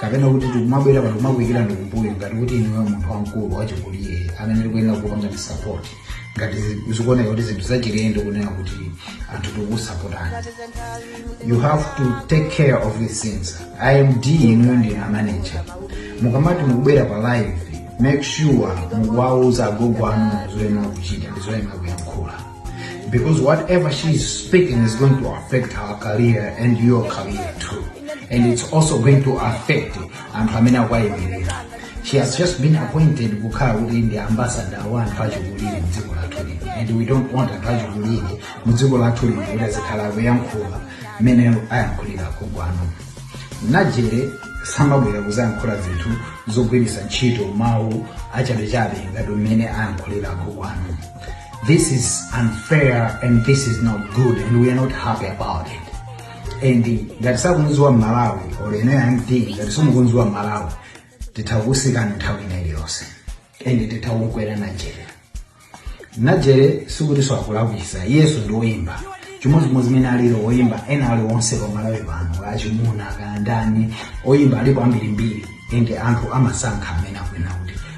kapena kuti tikumabwera pano kumakuikira ndi kumbuyo ngati kuti ndiwe munthu wamkulu wachikulire amene tikuyenera kupanga ndi support ngati zi- zikuoneka kuti zinthu zachilendo kunena kuti anthu tikusapotana you have to take care of these things MD inuyo ndi manager mukamati mukubwera pa live make sure mukuwauza agogo anu zoyenera kuchita ndi zoyenera kuyankhula Because whatever she is speaking is going to affect her career and your career too. And it's also going to affect anthu amene akuwayimirira. She has just been appointed kukhala kuti ndi ambassador wa anthu achikulire mdziko lathu lino. And we don't want anthu achikulire mdziko lathu lino kuti azikhala akuyankhula mmene ayankhulira agogo anu. Najere samabwera kuzayankhula zinthu zogwiritsa ntchito mawu achabechabe ngati mmene ayankhulira agogo anu. This is unfair and this is not good and we are not happy about it. And ngati sakudziwa aMalawi or inu MD ngati simukudziwa aMalawi titha kusiyana nthawi ina iliyonse and titha kukwera najere najere sikuti si wakulakwitsa yesu ndi woyimba chimodzimodzi mmene alili woyimba ena ali onse pamalawi pano achimuna kaya ndani oyimba alipo ambirimbiri ende anthu amasankha amene akufuna kuti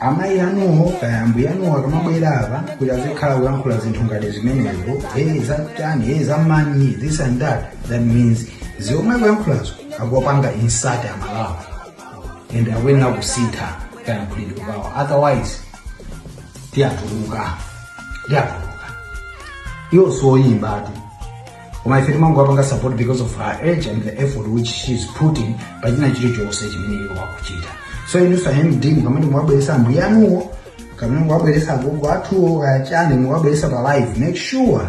amayi anuwo kaya ambuye anuwo akamabwera apa kuti azikhala kulankhula zinthu ngati zimenezo hey zachani hey zamanyi this and that that means zomwe akuyankhulazo akuwapanga insult aMalawi and akuyenera kusintha kayankhulidwe kawo otherwise tiwatuluka tiwatuluka iwo sioyimba ati koma ife timangowapanga support because of her age and the effort which she is putting pa china chilichonse chimene iwo akuchita so inunso a MD mukamati muwabweresa ambuye anuwo kaya muwabweresa agogo athuwo kaya chani muwabweresa pa live make sure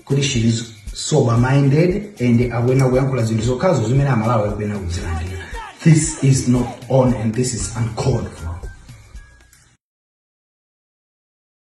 kuti she is sober minded and akuyenera kuyankhula zinthu zokhazo zimene amalawi akuyenera kuzilandira this is not on and this is uncalled for